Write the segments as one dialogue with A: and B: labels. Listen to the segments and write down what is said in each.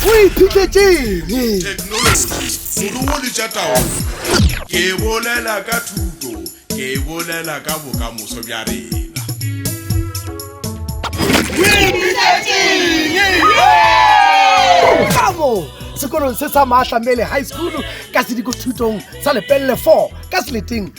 A: o iphitlhetseng
B: moruo le tša taolo ke bolela ka thuto ke bolela ka bokamoso bja rena
A: kamo sekolong se sa maatlamele high school ka sediko thutong sa lepelele 4 ka seleteng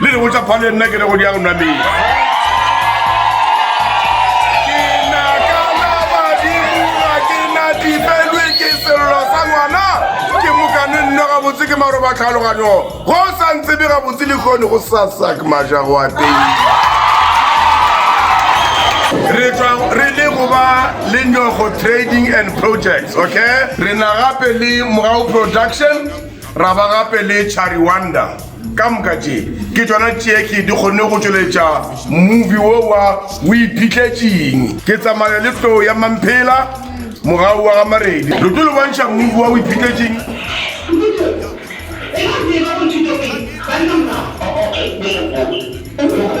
B: le re botsa phale nna ke re go di ya go nwa metsi gabotse ke maro ba tlhaloganyo go sa ntse be gabotse le kgone go sasak maja go ateng re le go ba le nyogo trading and projects okay re na gape le mogau production ra ba gape le chariwanda ka moka tše ke tsona tše ke di kgonne go tšweletša movie wo wa o iphitletseng ke tsamaya le tlo ya mamphela morago wa ga maredi lo tlo le bontšha movie wa o iphitletseng Thank you.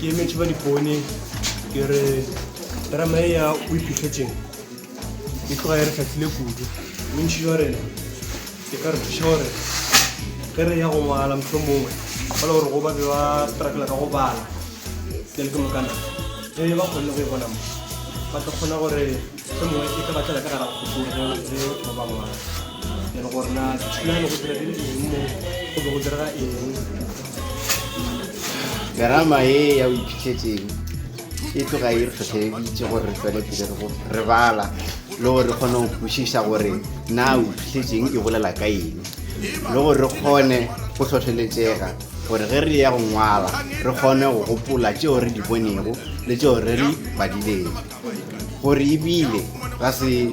C: ke emetše
D: ba dipone ke re terama e ya o iphitlhetseng e tloga e re tlhatlhile kudu bontšhi jwa rena ke ka re thuša gore ge re ya go ngwala motlho mongwe ba le gore go ba be ba strakela ka go bala ke le ke mokana ge ba kgonne go e bona mo ba tla kgona gore Somongwe e ka batlela ka gara kgopolo ge
E: o ntse o ba ngwana ene gore na dithulano go dira dire eng mo go be go direga eng terama e ya o iphitlhetseng e tloga e re tlhotlheleditse gore re tswele pele re go re bala le gore re kgone go kwešiša gore na o iphitlhetseng e bolela ka eng le gore re kgone go tlhotlheletsega gore ge re ya go ngwala re kgone go gopola tšeo re di bonego le tšeo re di badileng gore e bile ra se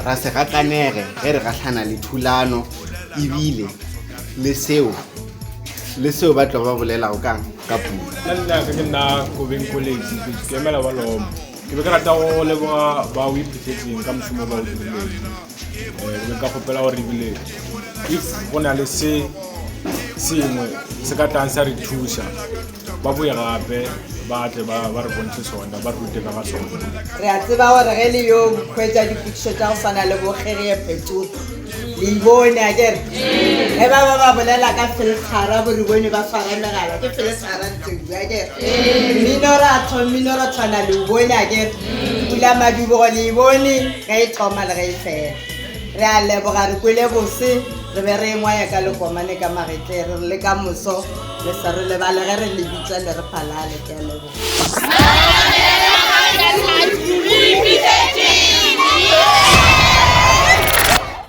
E: ra se gakanege ge re gahlana le thulano e bile le seo le seo ba tlo ba bolelago ka ka puo nna ke nna
D: kobeng kolesi ke emela ba loma ke be ke rata go leboga ba o iphuthetseng ka mošomo ba o dirileng um nka kgopela gore ebile if go na le se sengwe se ka tlang sa re thusa ba boye gape ba tle ba ba re bontšhe sona ba re rute ka ga sona re a tseba gore
F: ge le yo bokhwetša dipotšišo tša go swana le bokgereye phetogo le ibone a kere ge ba ba ba bolela ka felgara gore bone ba swara megala ke felgara ntsebu a kere mminoratho mminorathwana le bone a kere Pula Madubogo le e bone ge e thoma le ge e fela. Re a leboga re kwele bose re be re e ngwaya ka lekomane ka magetle re re le ka moso le se re lebale ge re le bitsa le re phalale ke a leboga.